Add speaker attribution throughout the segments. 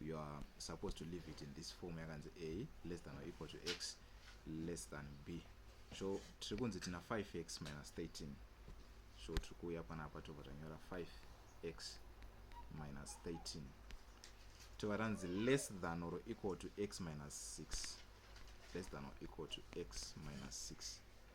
Speaker 1: you are supposed to leave it in this form yakanzi a less than or equal to x less than b so tiri kunzi tina 5x minus 13 so tiri kuuya panapa tobva tanyora 5x minus 13 tova ranzi less than or equal to x minus 6 less than or equal to x minus 6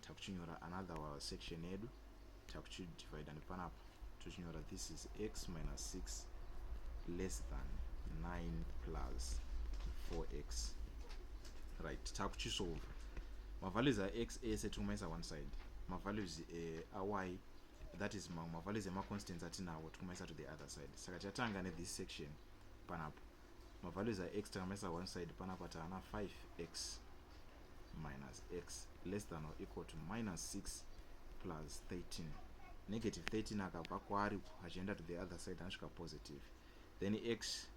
Speaker 1: takuchinyora another wa section yedu takuchidivida nepanapa tochinyora this is x minus 6 less than 9 plus 4x right takuchisolva mavalues ax ese tikumaisa one side mavalues eh, ay that is mamwe mavalues emaconstants atinawo tikumaisa to the other side saka chatanga nethis section panapo mavalues ax takamaisa one side panapa taana 5x minus x less than or equal to minus 6 plus 13 negative 13 akabva kwaari achienda to the other side anosvika positive then x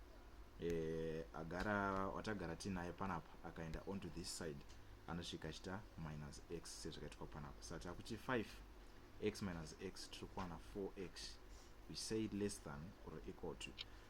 Speaker 1: eh, agara watagara tinaye panapa akaenda on to this side anosvika achita minus x sezvakaitwa panapa sa takuti 5 x minus x tiri kuwana 4x we say less than or equal to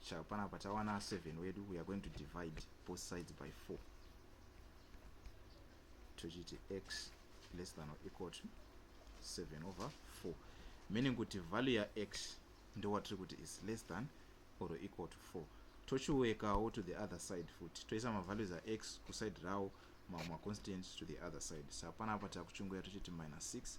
Speaker 1: Sha panapa tawana 7 wedu we are going to divide both sides by 4 tochiti x less than or equal to 7 over 4 meaning kuti value ya x ndowatiri kuti is less than or equal to 4 tochiwekawo to the other side futi toisa mavalues ax kuside rawo mamwe maconstant to the other side sa panapa takuchunguya tochiti minus 6